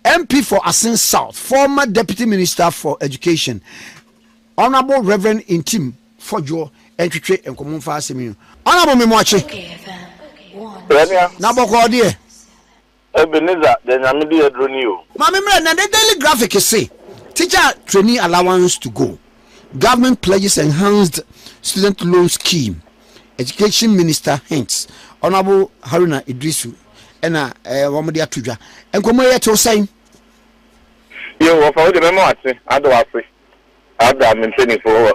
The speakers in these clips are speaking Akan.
MP for Asin South, former Deputy Minister for Education, Honourable Rev. Ntim Fodwoɔ ntwetwe nkɔmmɔ mfa asɛm yi ho. Honourable Memoakye, Yɛnua. na bɔkɔɔ deɛ. Ebenezer, deɛ Nyame de aduro ni o. Maame mmerɛ na the daily graphic se teacher trainee allowance to go, government pledges enhanced student loan scheme, education minister hints, Honourable Haruna Iddrisu na wɔde ato dwa. Nkɔmmɔ yi tew sɛn? Yiw, wɔfa wo de, mɛma w'ate, ada wo ase, ada me mpanyimfo wɔ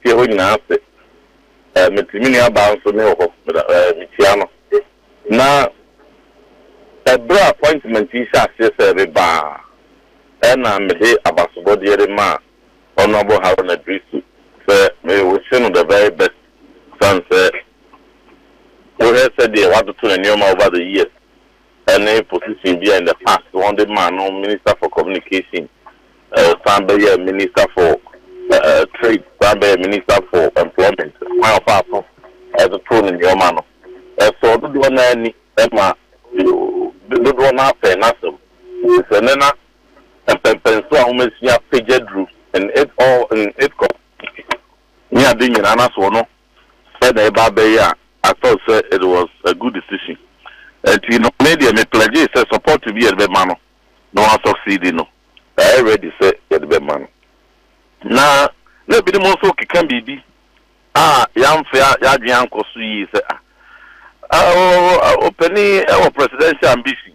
fie hɔ nyinaa ase. Mete me nuabaa nso ne wɔ hɔ, mikyia no. Na bere a appointment yi hyɛɛ aseɛ sɛ ɛreba a, na mede abasobɔdeɛ remaa Honourable Haruna Drisu sɛ me wish no the very best, esiane sɛ Wohwɛ sɛdeɛ w'atoto ne nnoɔma over the years ne position bi a in the past wɔde maa no minister for communication, ɔsan bɛyɛɛ minister for trade, ɔsan bɛyɛɛ minister for employment, kwan a ɔfaa so totoo ne nnoɔma no ɛsɔɔ dodoɔ no ara ani ma dodoɔ no ara pɛɛ n'asɛm. Te sɛ ɛnnɛ na mpɛmpɛnsoɔ a wɔasua pagya duru in it all in it com. ne ade nyinaa n'asoɔ no ɛna ɛba abɛyɛ a I thought sɛ it was a good decision ɛnti no me deɛ me pledgee sɛ support bi yɛde bɛma no na wa succeed no yɛayɛ ready sɛ yɛde bɛma no na na ebinom nso keka biribi a yɛamfa yɛadwene ankɔ so yie sɛ ah ɔpanin ɛwɔ presidential ambition.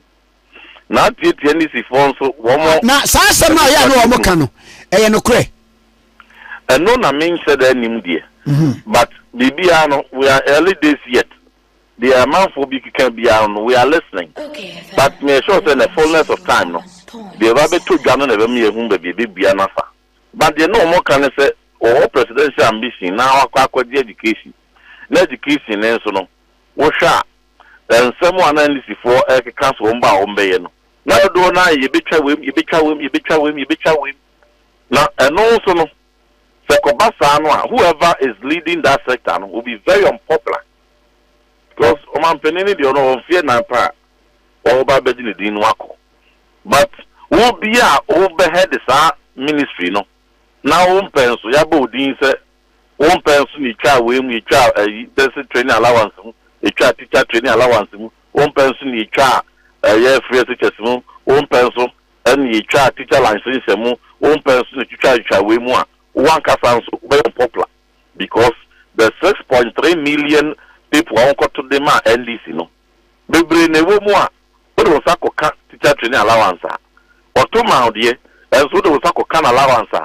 Na tiatia Nisifoɔ nso, wɔn. Ah, na saa asɛm a ɛyɛ a na wɔn ka no, ɛyɛ nokorɛ? Ɛno na menhyɛ da nnim deɛ. Mhm. But biribiara no, we are early days yet. Deɛ amanfoɔ bi keka biara no, we are listening. But meyɛ sure sɛ in the fullness of time no, deɛ ɛba bɛtɔ dwa no na ɛbɛma yɛahu baabi a ɛbɛbua no afa. But deɛ na wɔn ka ne sɛ, wɔwɔ presidential ambition na wɔakɔ akɔgye education. Na education no nso no, wohwɛ a, Na nsɛm a na Anglesifo rekeka so wɔn ba a wɔbɛyɛ no, na dodow no ara yɛ yebetwa wim, yebetwa wim, yebetwa wim, yebetwa wim. Na ɛno nso no, sɛ ɛkɔba saa no a, whoever is leading that sector no will be very unpopular. Because ɔmanpanin no deɛ, ɔno ɔwɔ mfeɛ nnan pɛ a, wɔba abɛgye ne din no akɔ. But wo bi a wobɛhead saa ministry no, na wompɛ nso, yɛabɔ wo din sɛ Wo mpɛ nso na etwaa wei mu, etwaa ayi basic training allowance mu, etwaa teacher training allowance mu, wo mpɛ nso na etwaa ɛyɛ free SHS mu, wo mpɛ nso na etwaa teacher licensure mu, wo mpɛ nso na etwitwaa twitwaa wei mu a, wo ankasa nso wobɛyɛ unpopular because the six point three million people a wɔkɔto de maa NDC no, bebree na ɛwɔ mu a wode wo nsa kɔka teacher training allowance a wɔto maa wo deɛ, nso wode wo nsa kɔka no allowance a,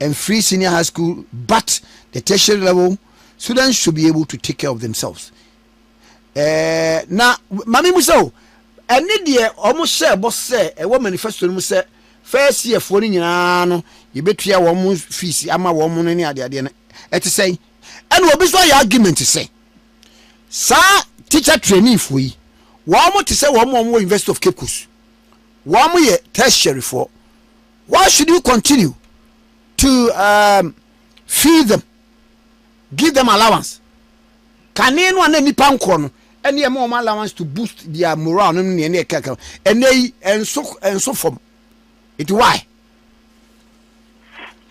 Mfiri senior high school but the tertiary level students should be able to take care of themselves. Eh, na mame mu sɛ o, ɛne deɛ wɔn hyɛɛ bɔ sɛ ɛwɔ manifesto no mu sɛ first year foɔ no nyinaa no yɛbɛtua wɔn fees ama wɔn no ne adeadeɛ no ɛte sɛn? Ɛna obi nso ayɛ argument sɛ saa teacher trainee foɔ yi wɔn te sɛ wɔn wɔn wɔ University of Cape Coast wɔn yɛ tertiary foɔ Why should you continue to um, feed them, give them allowance? Kane no a na nipa nkorɔ no ɛne ɛma wɔn allowance to boost their morale no ne ɛne ɛkɛkɛ no ɛnɛ yi ɛnso ɛnso fam nti why?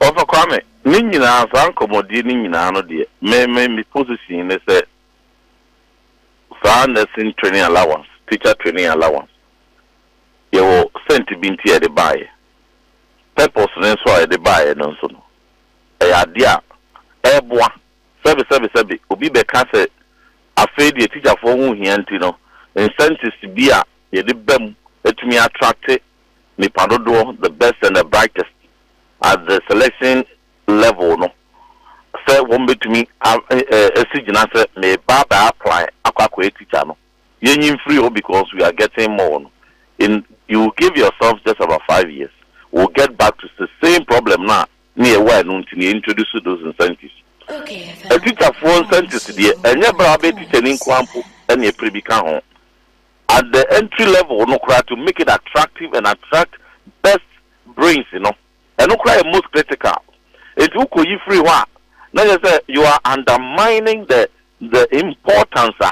Ɔfa Kwame ne nyinaa saa nkɔmmɔdie ne nyinaa no deɛ me me me position ne sɛ saa nursing training allowance, teacher training allowance Yɛwɔ scent bi nti a yɛde baeɛ. Purpose no nso a yɛde baeɛ no nso no, ɛyɛ adeɛ a ɛreboa. Sɛbesɛbesɛbe, obi bɛka sɛ afei deɛ tikyafoɔ ho hia nti no, incentives bi a yɛde ba mu atumi attracte nnipa dodoɔ, the best and the brightest, at the selection level no, sɛ wɔbɛtumi a asi gyina sɛ meba abɛ apply akɔ akɔyɛ tikya no. Yɛnyi mfiri hɔ because we are getting more no, in you will give yourself just about five years, we will get back to the same problem no a na yɛwɔ a ɛno nti na yɛ introduce those incentives. Atikyafoɔ incentives deɛ, ɛnyɛ berɛ a wobɛyɛ tikyani nko ara mpo na ɛpere bi ka ho. At the entry level no koraa to make it attractive and attract best brains no, ɛno koraa yɛ most critical. Enti wokɔyi firi hɔ a, na kyerɛ sɛ you are undermining the the importance a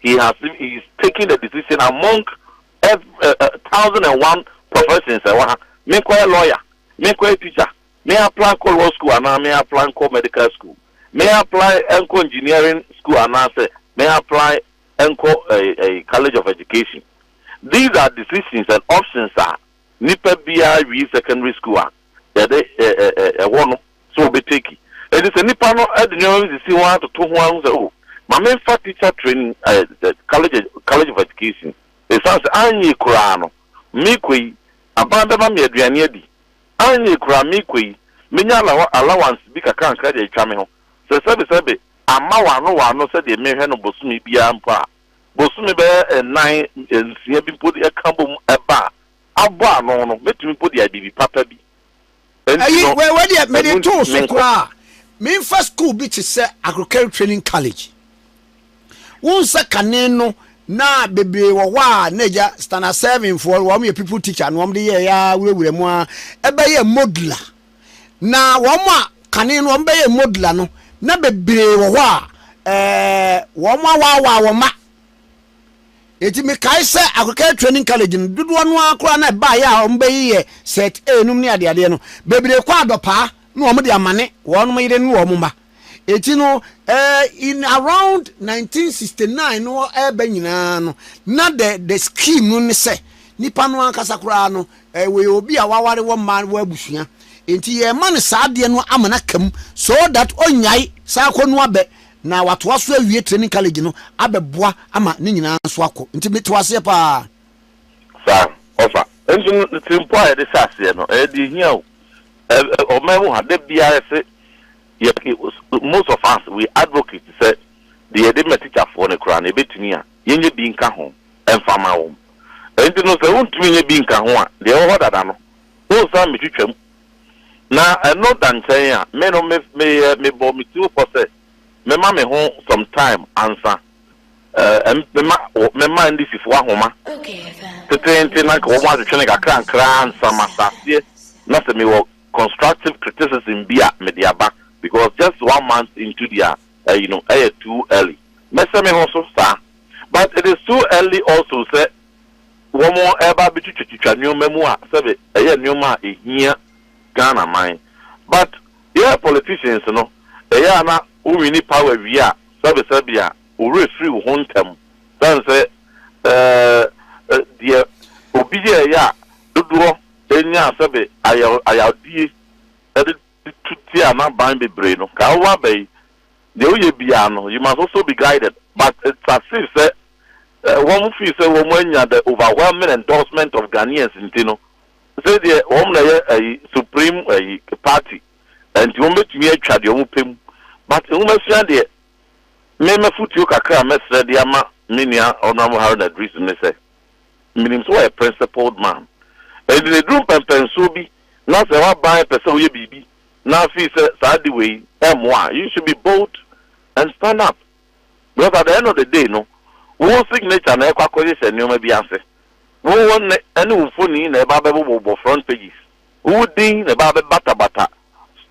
He has been he is taking the decision among ev eh, eh, thousand and one professions ɛwɔ ha menkɔyɛ lawyer menkɔyɛ teacher me apply nkɔ law school anaa me apply nkɔ medical school me apply nkɔ engineering school anaasɛ me apply nkɔ eh, eh, college of education these are decisions and options a Nipa biara wie secondary school a yɛde ɛwɔ no sɛ ɔbɛ take. Ɛnti sɛ nipa no de nneɛma bi sisi ho ara toto ho ara hu sɛ oh ma me nfa teacher training ɛɛ college college of education ɛsiane sɛ anyɛ koraa no me kɔ yi aban bɛma me aduane adi, anyɛ koraa me kɔ yi mɛnya allow allowance bi kakrankra de atwa me ho sɛ sɛbe sɛbe amma wano wano sɛdeɛ mehwɛ no bosome biara mpo a. bosome bɛyɛ nnan, nsia bi mpo de ka bom ba a, abɔ ano no, mɛtumi mpo de adidi papa bi. Enti Ayi, no, wei, wei deɛ mede ɛno to nti, wo so menkɔ. koraa. Memfa school bi te sɛ Agricultural Training College. Wohu sɛ kane no, na bebree wɔ hɔ a, na agya Standard Seven foɔ, wɔn yɛ pupil teacher na wɔn de yɛɛ ara, wurawura mu ara. Ɛbɛyɛ modular. Na wɔn a kane no wɔbɛyɛ Mogla no, na bebree wɔ hɔ a wɔawaawaa wɔn ma. Enti mekae sɛ Akokae Training College no, dodoɔ no ara koraa na ɛbaeɛ a wɔbɛyeyɛ Cert A nom ne adeadeɛ no, bebree kɔ adɔpaa na wɔde amane wɔn yere ne wɔn mma. Enti no, eh, in around nineteen sixty nine no ɛreba nyinaa no, na the the scheme no ne sɛ, nipa no ankasa koraa no, eh, wɔyɛ obi a waware wɔ mma wɔ abusua. Enti yɛrema no saa adeɛ no ama no aka mu so that ɔnnyae saa akɔnua bɛ na watoa so awie training college no abɛboa ama ne nyinaa nso akɔ. Nti mete wo aseɛ paa. Saa, ɔfa. Nso no, ne tirimpɔ a yɛde hyɛ aseɛ no, ɛyɛ deɛ ɛhia o. Ɔma yɛhu ha, da biara yɛse yɛpɛ, most of us we advocate sɛ deɛ yɛde ma tikyafoɔ no koraa no yɛbɛtumi a yɛnyɛ bi nka ho mfa mma wɔn. Ɛnti no sɛ wontumi nyɛ bi nka ho a, deɛ ɛwɔ hɔ dada no wonsan mmɛtwitwa mu. Na ɛno da nkyɛn a, me no meyɛ, mebɔɔ me tirim pɔ sɛ mɛma me ho some time ansa Ɛm, mema wɔ, mema Indisifo ahoma teteete na anka wɔatwetwe no nkakrankra ansa masa aseɛ, na sɛ mewɔ constructive criticism bi a mede aba, because just one month into their ɛyi no, ɛyɛ too early. Mɛhyɛ me ho so saa. But it is too early also sɛ wɔreba abɛtwitwatwitwa nneɛma mu a sɛbe ɛyɛ nneɛma a ɛhia Ghana man. But Yɛɛ politicians no ɛyɛ a na wo winni power wie a sɛbesɛbe a wo werɛ firi wo ho ntɛm sane sɛ eh deɛ obi yɛɛyɛ a dodoɔ nyaa sɛbe ayayawdie de tu tia n'aban bebree no ka wo aba yi deɛ wo yɛ biara no you must also be guided but it's as if sɛ eh wɔn feel sɛ wɔn anya the overwhelming endorsement of Ghanaians nti no Ɔsɛ deɛ wɔn na yɛ ayi supreme ayi party ɛnti wɔn bɛtumi atwa deɛ wɔn pɛ mu but nwomasua deɛ me mafotuo kakra a mɛsrɛ de ama me nua Honourable Haruna Driss ne sɛ menim sɛ wɔyɛ principled man ɛnti na ɛduru mpɛnpɛnsoɔ bi na sɛ waban pɛ sɛ woyɛ biribi na afei sɛ saa de wei ɛmmoa a you should be bold and stand up. Because at the end of the day no, wo signature na ɛkɔ akɔhyehyɛ nneɛma bi ase. Wo wo nne ne wo mfoni na ɛba abɛbobɔbobɔ front pages. Wo wo din na ɛba abɛbatabata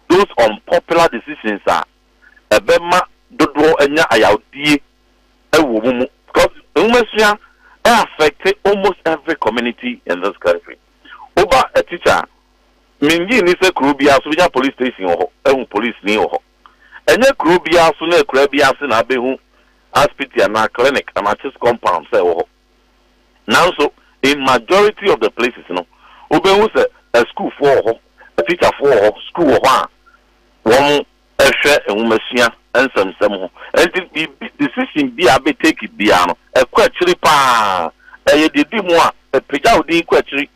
those unpopular decisions a ɛbɛma dodoɔ anya ayawdie wɔ wɔn mu. Because nwomasua affect almost every community in this country. Woba a teacher a, mennye nni sɛ kuro biara so wobɛnya police station wɔ hɔ, ahu polisini wɔ hɔ. Ɛnyɛ kurow biara so ne akuraa biara ase na abehu asipiti anaa clinic anaa church compound sɛ ɛwɔ hɔ. Nanso in majority of the places no, wobehu sɛ asukuufoɔ wɔ hɔ, atikyafoɔ wɔ hɔ, sukuu wɔ hɔ a wɔhwɛ nwomasua nsɛmnsɛm ho. Ɛnti biribi, decision bi a abetake biara no, ɛkɔ akyiri paa. Ɛyɛ deɛ edi mu a, ɛpagya wo din kɔ akyiri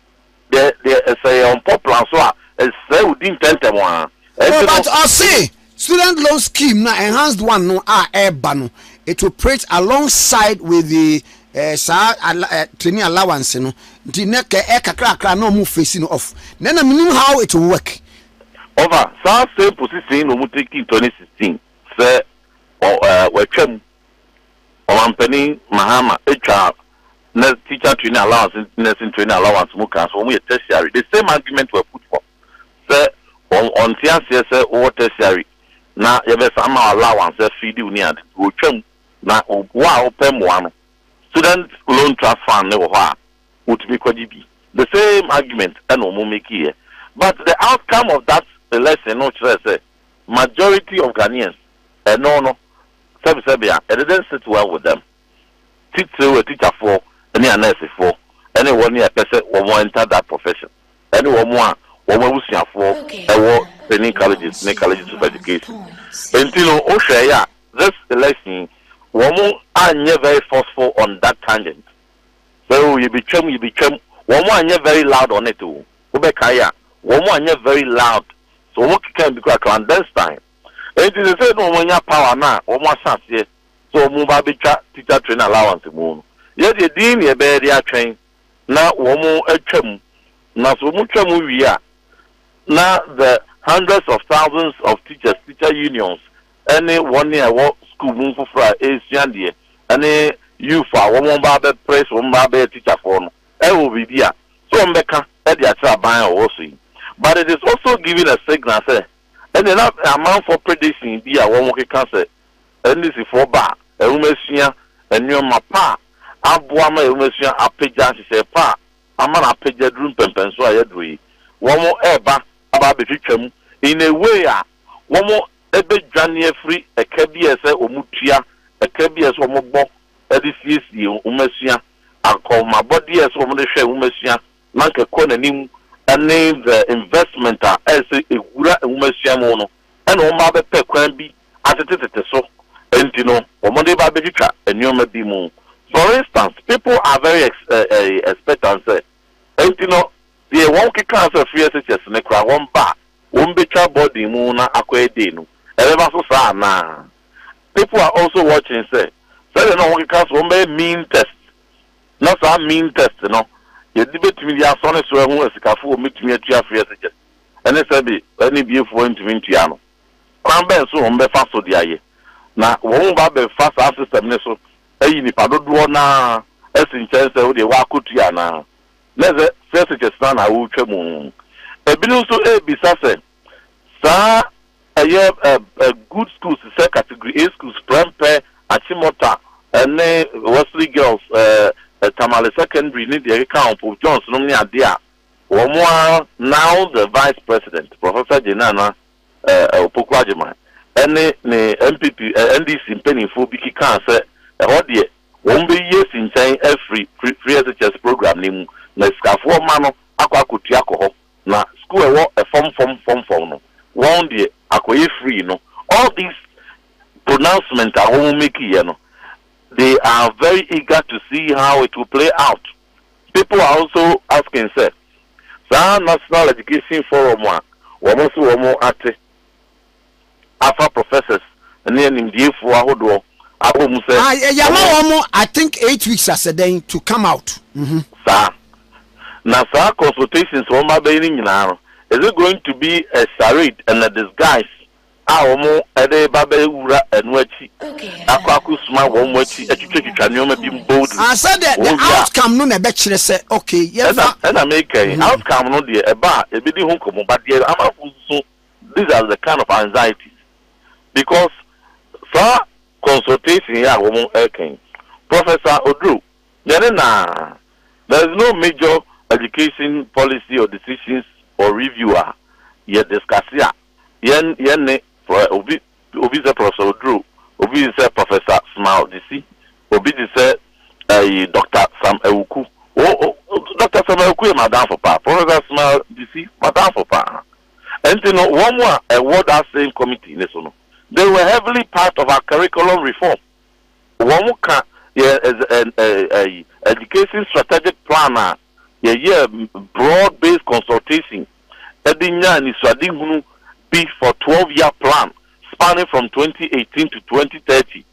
Deɛ deɛ ɛsɛ yɛ ɔmpɔ plan so a ɛsɛ odi ntɛntɛm ara. Oh but ɔse student loan scheme no a enhanced one no a ɛɛba no it will operate along side with the eh, saa ala, eh, training allowance no nti nɛ kɛ ɛ kakrakra na ɔmo face no off nɛ na menim how it will work. Ɔfa saa same position yi na ɔmo take in twenty sixteen sɛ ɔ eh, watwa mu. Ɔmanpanin Mahama twaa nurse teacher training allowance ne nursing training allowance mu kaa sɛ wɔn yɛ tertiary the same argument were put forth sɛ wɔn ɔnte aseɛ sɛ wowɔ tertiary na yɛbɛsan ma allowance sɛ feed wo ne ade nti wɔtwam na wo a wopɛ mmoa no student loan trust fund ne wɔ hɔ a wotumi kɔgye bi the same argument ɛna wɔn makeeɛ but the outcome of that election no kyerɛ sɛ majority of Ghanaians ɛno no sɛbesɛbe a it didn't sit well with them. titiriw atikyafoɔ ne anɛɛsefoɔ ne wɔn a ɛpɛ sɛ wɔn enter that profession ne wɔn a wɔn abusuafoɔ wɔ training colleges ne colleges of education. Enti no wohwɛɛe a this election yi wɔn anyɛ very forceful on that tangent sɛ oh yɛbɛtwam yɛbɛtwam wɔn anyɛ very loud on it o wobɛkae a wɔn anyɛ very loud so wɔn kekaa bi koraa clandestine enti sɛ sɛ na wɔn anya power no a wɔn ahyɛ aseɛ sɛ wɔn ba bɛtwa Teacher Training Allowance mu no, yɛ deɛ din na yɛbɛyɛ de atwɛn na wɔn atwa mu. Na sɛ wɔn twa mu wie a, na the hundreds of thousands of teachers, teacher unions, ɛne wɔn a ɛwɔ sukuu mu foforɔ a ɛresua adeɛ, ɛne youth a wɔn ba abɛpere sɛ wɔn ba abɛyɛ teacher foɔ no, ɛwɔ biribi a sɛ wɔn bɛka de akyerɛ aban a ɔwɔ so yi. But it is also giving a signal sɛ ɛnneɛ na amanfoɔ prediction bi a wɔn keka sɛ Anisifoɔ ba a, nwomasua nnoɔma pa a aboa ma yɛn nwomasua apagya nhyehyɛe pa a ama no apagya duru mpɛmpɛnsoɔ a yɛaduru yi. Wɔreba aba abɛtwitwa mu in a way a wɔbɛdwane afiri ɛka bi a ɛsɛ wɔtua, ɛka bi a ɛsɛ wɔbɔ de siesie nwomasua, akɔnhomabɔdeɛ a ɛsɛ wɔde hwɛ nwomasua na anka ɛkɔ n'anim ne the investment a ɛsɛ ɛwura nwomasua mu no. ɛna wɔn ba bɛpɛ kwan bi atetetete so nti no wɔn de ba bɛtwitwa nnoɔma bi mu for instance people are very ex eh expectant sɛ nti no deɛ wɔn kekaa sɛ free SHS no koraa wɔn ba a wɔn bɛtwa boarding mu na akɔ ɛdei no ɛbɛba so saa anaa people are also watching sɛ sɛdeɛ na wɔn keka sɛ wɔn bɛyɛ mean test na saa mean test no yɛde bɛtumi de asɔ ne so ahu asikafo wɔn bɛtumi atua free SHS. ne sɛ de anibiefo antumi ntua no. Kwan bɛn so na wɔbɛfa so de ayɛ na wɔba abɛfa saa system no so ayi nnipa dodoɔ no ara asi nkyɛn sɛ wo deɛ woakɔtua anaa? Na ɛsɛ searches no ara na wotwa mu. Ebinom nso rebisa sɛ saa ɛyɛ good schools sɛ category A schools, Prempeh, Achimota ne Wesley Girls, Tamale Secondary ne deɛ ɛkeka ho, Pope John's nom ne adeɛ a Wɔn ara now the Vice President, Professor Jane Nana Opoku Agyemang ne ne NPP, NDC mpanimfoɔ bi kekaa sɛ ɛhɔ deɛ wɔbɛyi asi nkyɛn afiri Free SHS programme no mu na sikafoɔ mma no akɔ akɔtua akɔ hɔ na sukuu a ɛwɔ fam fam fam fam no wɔn deɛ akɔyɛ free no. All these pronouncements a wɔn makeeɛ no they are very eager to see how it will play out. People are also asking sɛ, saa National Education Forum a wɔn se wɔn ate afa professors ne animdiefoɔ ahodoɔ abɔ mu sɛ Ah, yɛ, yɛama wɔn. wɔn I think eight weeks asɛdɛn to come out. Mhm. Saa. Na saa consultations wɔn abɛyɛ no nyinaa no, is it going to be a charade and a disguise a wɔde ba bɛwura ɛno akyi akɔ akosuma wɔn akyi atwitwatwitwa nneɛma bi mu boldly. Ah, sɛ deɛ the outcome no na ɛbɛkyerɛ sɛ okay yɛmfa. Ɛna meka yi, outcome no deɛ ɛba a yɛbɛdi ho nkɔmmɔ but deɛ amanfo nsusu these are the kind of anxieties because saa consultation yi a wɔreka yi, Professor Oduro, deɛ ne na there is no major education policy or decisions or review a yɛ discuss a. Yɛn yɛn ne Prɔ obi obi sɛ Prɔfɛsɛ Oduro, obi te sɛ Prɔfɛsa Smile Disi, obi te sɛ ɛyi Dɔkta Sam Awuku. O o Dɔkta Sam Awuku yɛ m'adamfo paa, Prɔfɛsa Smile Disi m'adamfo paa. Ɛnti no wɔn a ɛwɔ that same committee no so no, they were heavily part of our curriculum reform. Wɔn ka yɛn ɛz ɛ ɛ ɛyi education strategic plan a yɛyɛɛ broad based consultation de nyaa anisoadehunu bi for twelve year plan spanning from twenty eighteen to twenty thirty.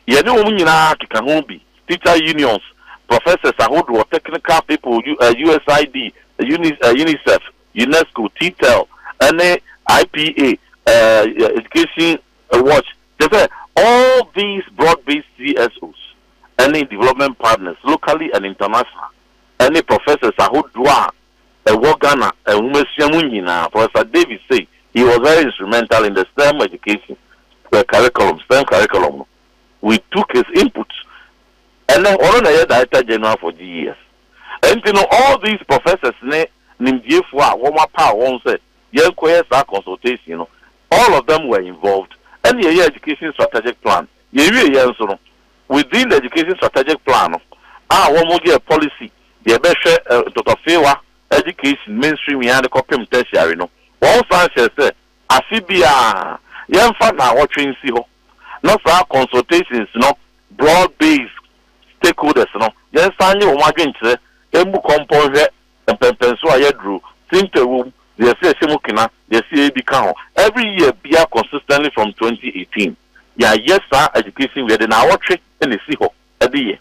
Yɛne wɔn nyinaa keka ho bi, teacher unions, professors ahodoɔ, technical people, USAID, UNICEF, UNESCO, TTEL, ne IPA, Education Watch, kyerɛ sɛ all these broad based CSOs ne development partners locally and international ne professors ahodoɔ a Ɛwɔ Ghana nwomasua mu nyinaa. Professor David Sey, he was very instrumental in the stem education curriculum, stem curriculum no, we took his input. Ɛnnɛ, ɔno na ɛyɛ Director General for GES. Ɛnti no, all these professors ne nimdiefoɔ a wɔn apaw wɔn sɛ yɛnkɔyɛ saa consultation no, all of them were involved. Ɛnna yɛyɛɛ education strategic plan. Yɛwieɛ nso no, within the education strategic plan no, a wɔn yɛɛ policies, Yɛbɛhwɛ ntɔtɔfewa de Kaisin mainstream yi ara de kɔpem Tertiary no. Wɔsan hyɛɛ sɛ afe biara yɛmfa nnawɔtwe nsi hɔ na saa consultations no broad based stakeholders no yɛnsan nye wɔn adwenkyerɛ mmu kɔmpɔ nhwɛ mpɛnpɛnso a yɛaduru, simpe wom, deɛ ɛsɛ yɛhyɛ mu kena, deɛ ɛsɛ yɛdi ka ho. Every year biara consistently from twenty eighteen yɛayɛ saa education wei yɛde nnawɔtwe na ɛsi hɔ. adiyɛ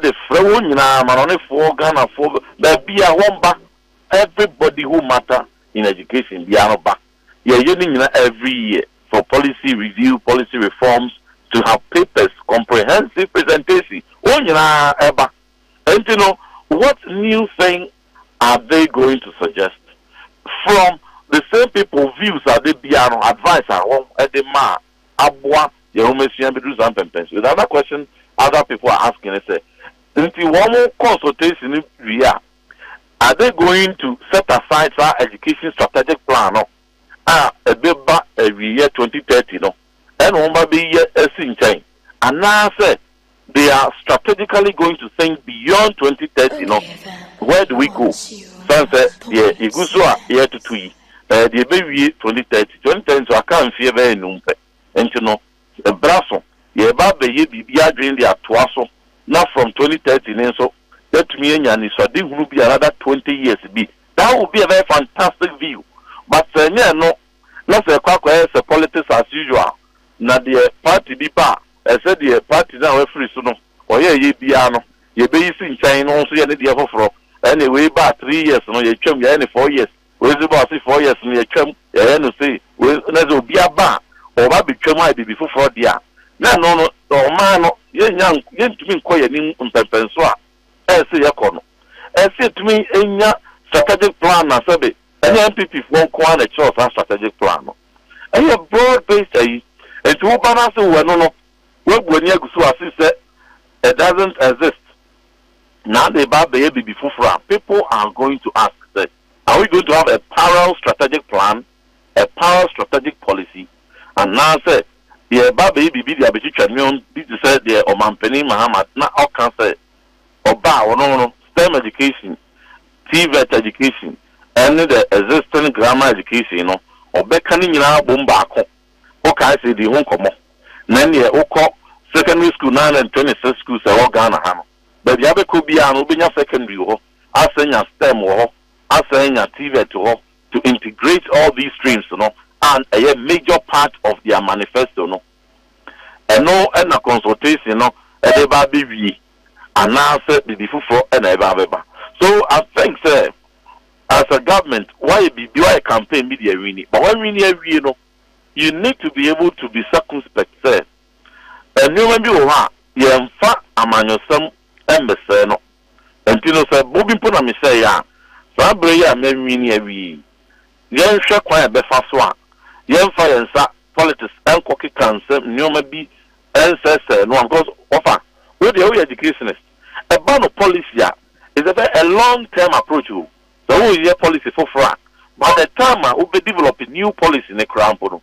de frɛ wɔn nyinaa amanɔnefoɔ, Ghanafoɔ, baabiara wɔn ba, everybody who matter in education biara no ba, yɛyɛ ne nyinaa every year for policy review, policy reforms, to have papers, comprehensive presentation, wɔn nyinaa ba, ɛnti no what new thing are they going to suggest from the same people views a da biara no advice a wɔn de ma a aboa yɛn nhomasua bɛduru saa mpɛmpɛn so. The other question other people are asking ne sɛ, nti wɔn consultation no wie a, are they going to set aside saa education strategic plan no a ɛbɛba awieɛ twenty thirty no ɛna wɔn ba bɛyi asi nkyɛn anaasɛ they are strategically going to think beyond twenty thirty no where do we go san sɛ deɛ yɛgu so a yɛretoto yi ɛyɛ deɛ ɛbɛwie twenty thirty twenty thirty nso aka mfeɛ bɛyɛ nnum pɛ nti no ɛbra so yɛreba abɛyɛ biribi adwene de atoa so na from twenty thirty ne nso yɛatumi anya anisɔadehunu bi another twenty years bi that would be a very fantastic view but sɛ ɛnyɛ ɛno na sɛ ɛkɔ akɔyɛ sɛ politics as usual na deɛ party bi ba a Ɛsɛ sɛ deɛ party no a wafiri so no ɔyɛ ɛyɛ biara no yɛbɛyi si nkyɛn na ɔno nso yɛ ne deɛ foforɔ. Ɛnneɛ wei ba a three years no yɛtwam yɛayɛ no four years, wei nso ba a ɔse four years no yɛtwam yɛayɛ no sei, wei nso, na sɛ obi aba a ɔba abɛtwam ayɛ biribi foforɔ deɛ a, na ɛno no ɔman no yɛnnya nk yɛntumi nkɔ yɛn anim mpɛnpɛnsoɔ a ɛsɛ sɛ yɛkɔ no. Ɛsɛ sɛ yɛtumi nya strategic plan na sɛbe ɛnyɛ NPP foɔ nko ara na ɛkyerɛw saa strategic plan no. Ɛyɛ broad based ayi nti wo ba no ase wo ɛno no wabu ani agu so as if sɛ it doesn't exist na ade reba abɛyɛ biribi foforɔ a people are going to ask sɛ are we going to have a parallel strategic plan, a parallel strategic policy anaa sɛ yɛreba abɛyɛ biribi de abɛtwitwa nneɛma bi te sɛ deɛ Ɔmanpanin Mahama na ɔka sɛ Ɔba a ɔno no STEM education, TVET education ɛne the existing grammar education no ɔbɛka ne nyinaa abom baako. Wokae sɛ yɛdii ho nkɔmmɔ na ɛneɛ wokɔ secondary school no ara na ntwɛne sɛ schools a ɛwɔ Ghana ha no baabi a wobɛkɔ biara no wobɛnya secondary wɔ hɔ asan anya STEM wɔ hɔ asan anya TVET wɔ hɔ to integrate all these streams no a ɛyɛ major part of their manifesto no. Ɛno na consultation no de ba abɛwie anaasɛ biribi foforɔ na ɛba abɛba. So I think sɛ as a government woayɛ biribi, woayɛ campaign bi de awini but woawini awie no you need to be able to be circumspect sɛ nnoɔma bi wɔ hɔ a yɛmfa amanyɔsɛm mmɛsɛe no. Nti no sɛ bobi mpo na mehyɛeɛ a saa berɛ yi a mawini awie yi Yɛnhwɛ kwan a ɛbɛfa so a yɛmfa yɛn nsa politics nkɔ keka nsɛm nneɛma bi nsɛesɛe no ano because wɔfa wo deɛ woyɛ educationist ɛba no policy a is a very a long term approach o sɛ woreyɛ policy foforɔ a by the time a wobɛ develop new policy no koraa mpo no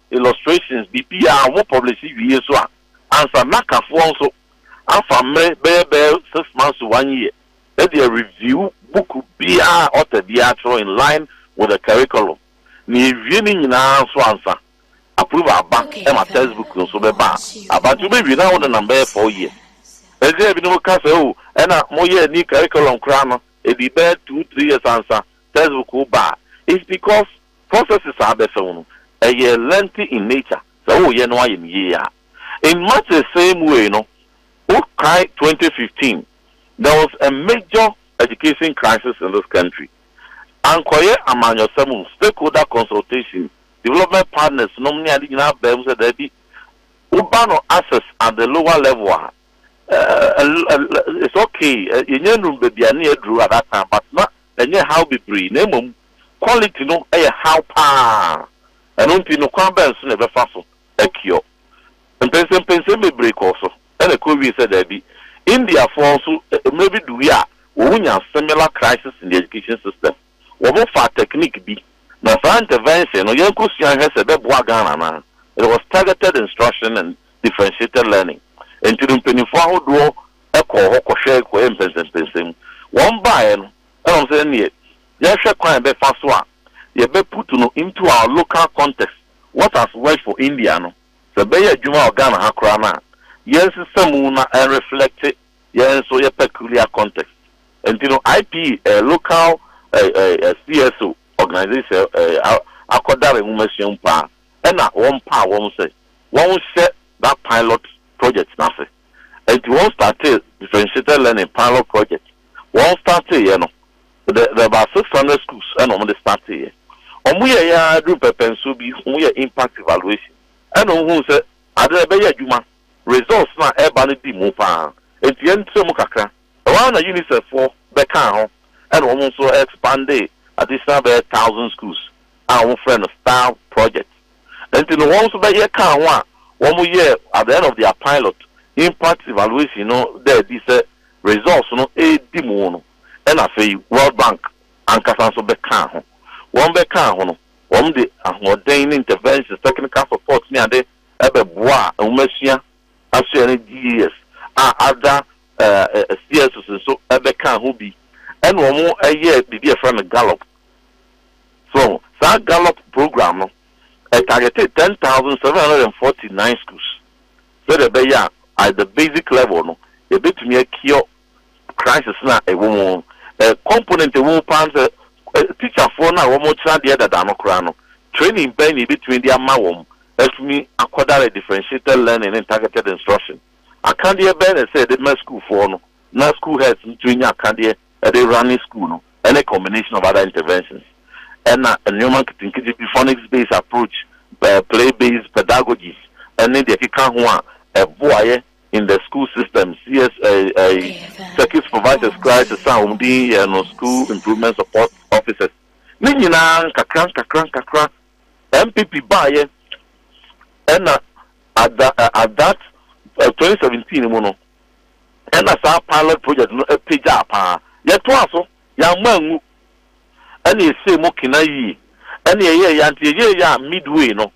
illustrations biribiara ho publishe wie so a, ansa na kafoɔ nso afa mmere bɛyɛ bɛyɛ six months to one year de areview book biara a author biara twerɛ in line with the curriculum na yɛwie ne nyinaa nso ansa approval aba ma text book nso bɛba a aba nti wobɛwie na wonenam bɛyɛ four years. Ɛnti na binom ka sɛ oh ɛna moyɛɛ new curriculum koraa no ɛdii bɛyɛ two three years ansa Textbook wo ba a, it's because processes a abɛfa mu no, ɛyɛ lengthy in nature, sɛ woreyɛ no ayɛ no yie a. In much the same way no, wokae twenty fifteen, there was a major education crisis in this country. Ankɔyɛ amanyɔsɛm, stakeholder consultation, development partners nom ne ade nyinaa baa mu sɛ daabi, wo ba no access at the lower level a, eh, eh, it's okay, eh, yɛnnya nnuru baabi a ne yɛaduru at that time, but na ɛnyɛ haw bebree, na mmom quality no yɛ haw paa. Ɛno nti no kwan bɛn so na yɛbɛfa so akiɔ? Mpɛnsɛmpɛnsɛm bebree kɔɔ so na ɛkɔwiee sɛ daabi. Indiafoɔ nso mmerɛ bi duruui a wɔnya similar crisis in the education system. Wɔfaa technique bi, na saa intervention no yɛnkɔsua nhwɛ sɛ ɛbɛboa Ghana anaa. It was targeted instruction and differentiated learning. Ɛnti no mpanimfoɔ ahodoɔ kɔɔ hɔ kɔhwɛe kɔyɛɛ mpɛnsɛmpɛnsɛmu. Wɔbaeɛ no, ɛna wɔn sɛ ɛnneɛ yɛnhwɛ kwan a yɛbɛfa so a yɛbɛ put no into our local context, what has worked for India no, sɛ ɛbɛyɛ adwuma wɔ Ghana ha koraa no a, yɛnsesa mu na ɛn reflecte yɛn nso yɛ peculiar context. Ɛnti no IPE, local CSO organization akɔdare nwomasua mu paa, ɛna wɔmpaa wɔn sɛ wɔnhyɛ that pilot project no ase. Enti wɔn startee differentiated learning pilot project. Wɔn startee yɛ no, the the about six hundred schools ɛna wɔn de startee yɛ. Wɔn yɛ yɛ ara duru pɛpɛnsoɔ bi, wɔn yɛ impact evaluation ɛna wɔn hu sɛ ade na ɛbɛyɛ adwuma, results na ɛba no di mu paa. Enti yɛn tra mu kakra, ɛhɔ ara na UNICEF foɔ bɛ kaa ho ɛna wɔn nso expandee additional bɛyɛ thousand schools a wɔn frɛ no star project. Enti no wɔn nso bɛyɛ kaa ho a wɔn yɛɛ at the end of their pilot impact evaluation no da adi sɛ results no redi mu no ɛna afei World Bank ankasa nso bɛkaa ho. Wɔn bɛkaa ho no wɔn de ahoɔden ne interventions, technical support ne ade bɛboaa nwomasua asoɛe no GES a other CSOs nso bɛkaa ho bi ɛna wɔn yɛɛ biribi a yɛfrɛ no Gallup So saa Gallup program no targetee ten thousand seven hundred and forty nine schools sɛdeɛ ɛbɛyɛ a at the basic level no yɛbɛtumi a cure crisis no a ɛwɔ mu no. Component a ɛwɔ mu paa ne sɛ teacherfoɔ no a wɔkyerɛ adeɛ dada no koraa no training bɛn na yɛbɛtumi de ama wɔn atumi akɔdare differentiated learning ne targeted instruction. Akadeɛ bɛn na ɛsɛ sɛ yɛde ma sukuufoɔ no na school heads no tumi nya akadeɛ de running school no ne combination of other interventions na nnoɔma nketenkete bi phonics based approach, play based pedagogies ne deɛ ɛkeka ho a ɛboaeɛ in the school system CS circuit supervisors koraa te sɛ a wɔn din yɛ no school improvement support officers ne nyinaa nkakra nkakra nkakra MPP baeɛ ɛna at that 2017 mu no na saa pilot project no pagyaa paa. Yɛtoaa so, yɛamma angu, ɛna ɛsɛɛ mu kena yie. Ɛna ɛyɛɛ yɛ a nti yɛyɛeɛ a midway no,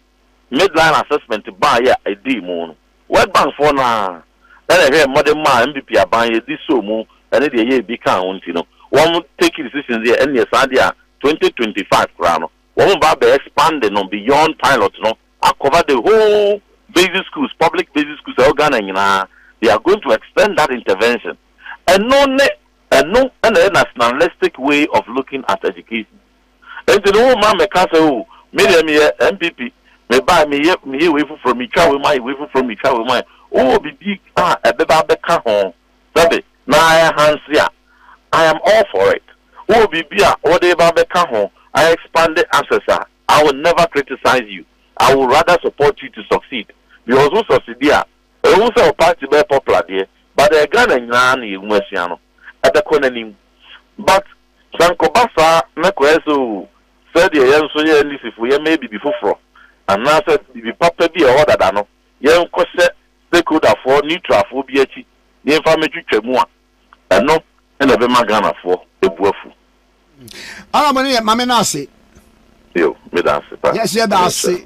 midline assessment baeɛ a ɛdii mu no, World Bank foɔ no ara na ɛhwɛɛ mmɔdemma a mpp aban yɛ de sɔɔ mu ne deɛ ɛyɛɛ bi kaa ho nti no, wɔn take decision sɛ ɛneɛ saa deɛ a 2025 koraa no wɔn ba abɛ expand no beyond pilot no. akɔfa the whole basic schools, public basic schools a ɛwɔ Ghana nyinaa, they are going to extend that intervention. Ɛno ne, ɛno na ɛyɛ nationalistic way of looking at education. Enti no womma mmɛka sɛ oh, me deɛ meyɛ NPP, mebae meyɛ, meyɛ wei foforɔ, metwa wei mu ayɛ wei foforɔ, metwa wei mu ayɛ. Wowɔ biribi a ɛbɛba abɛka ho, sɛbe, na ɛhanse a, I am all for it. Wowɔ biribi a wode reba abɛka ho, a expand access a, I will never criticize you, I will rather support you to succeed because wo succeedi a, ɛwom sɛ wo party bɛyɛ popular deɛ but ɛyɛ Ghana nyinaa na yɛn mu asua no, ɛbɛkɔ n'anim but sɛ nkɔba saa na kɔyɛ sɛ oo sɛdeɛ yɛn nso yɛ NDC foɔ yɛmmɛyɛ biribi foforɔ anaasɛ biribi papa bi a ɛwɔ hɔ dada no yɛnkɔhyɛ stakeholder foɔ, neutral foɔ bi akyi na yɛmfa mmɛtwitwa mu a, Ɛno na ɛbɛma Ghanafoɔ abu afu. Honourable no yɛ mame no ase. Yo, meda ase pa. Yes, yɛda ase.